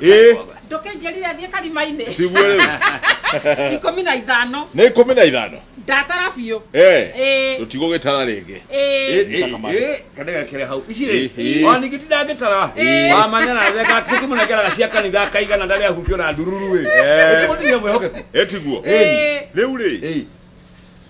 Ĩ, ndũkĩnjĩrire thiĩ karima-inĩ tiguo rĩu ikũmi na ithano nĩ ikũmi na ithano ndatara biũ Eh, Ĩ, tũtigũgĩtara rĩngĩ ĩ. kanegekere hau ici Ĩ, ĩ. rĩ ona ningĩ ndangĩtara Ĩ. wamanya na theka tũkĩmũnengeraga cia kanitha akaigana ndarĩ ahutio na ndururu ĩ Eh. ũtũmũtigia mwĩhokeku ĩtiguo Ĩ. rĩu rĩ Ĩ.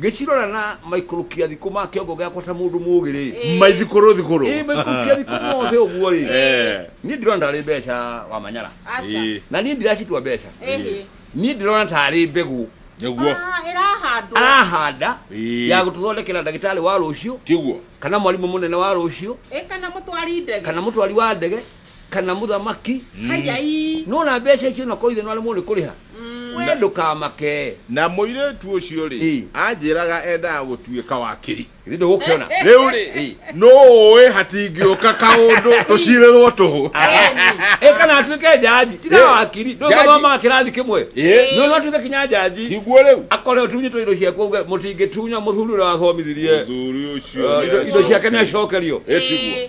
Ngĩcirora na maikũrũkia thikũ ma kĩongo gĩakwa ta mũndũ mũũgĩ-rĩ, maithikũrũ thikũrũ ĩ maikũrũkia thikũ mothe ũguo-rĩ, Eh. niĩ ndirona tarĩ mbeca wa manyara Aca. Ĩ. na niĩ ndiracitua mbeca Ĩhĩ. niĩ ndĩrona tarĩ mbegũ nĩguo Ah, ĩrahandwo. arahanda Ĩ. ya gũtũthondekera ndagĩtarĩ wa rũciũ tiguo kana mwarimũ mũnene wa rũciũ Ĩ kana mũtwari ndege. kana mũtwari wa ndege kana mũthamaki Hayai. nona mbeca icio na koithe no arĩ mũrĩ kũrĩha we ndũkamake na mũirĩtu ũcio rĩ Ĩ. anjĩraga endaga gũtuĩka wakiri githĩ ndũgũkĩona rĩu rĩ Ĩ. nũũĩ hatingĩũka kaũndũ tũcirĩrwo tũhũ ĩ kana atuĩke njaji tiga Ĩ. wakiri Njaji. ndũgamaga kĩrathi kĩmwe Ĩ. no no atuĩke kinya njaji tiguo rĩu akore ũtunyi twa indo ciaku auge mũtingĩtunya mũthuri ũrĩa wathomithirie mũthuri ũcio Eh, indo- indo ciake nĩ acokerio ĩtiguo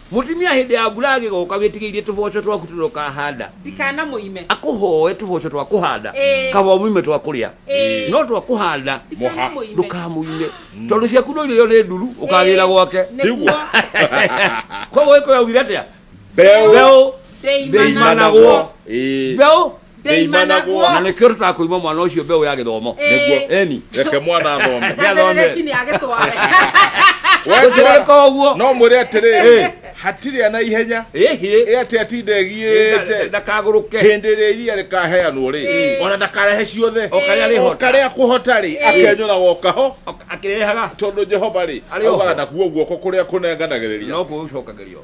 Mũtumia hĩndĩ ya mbura agĩgoka wĩtigĩirie tũboco twaku tũrĩa ũkahanda ndikana mũime akũhoe tũboco twa kũhanda Ĩĩ. kaba mũime twa kũrĩa Ĩĩ. no twa kũhanda ndikana Mũha. mũime ndũkamũime tondũ ciaku no irio nĩ nduru ũkagĩra gwake nĩguo koguo gĩkũyũ augire atĩa Mbeũ. mbeũ ndeimanagwo Ndeimana. Ĩĩ. mbeũ Ndĩimanagwo. na nä kä o tå tara kå ima mwana å cio mbeå ya gä thomo Nĩguo. eni reke mwana athome Ndeterereki nĩ agĩtware. Weswa, Gũtirĩ koguo. no mwĩre atĩrĩ Ĩ. hatirĩ ana ihenya ĩhä ĩ atĩ atinde ĩgiĩte ndakagå rå ke hĩndĩ ĩrĩa iria rĩkaheanwo rĩ Ĩ. ona ndakarehe ciothe O karĩa arĩhota. O karĩa akũhota rĩ akenyũraga o kaho akä rehaga tondå jehova rä Arĩ o augaga ho. nakuo guoko kå rä a kå nenganagä rä ria no kå cokagä rio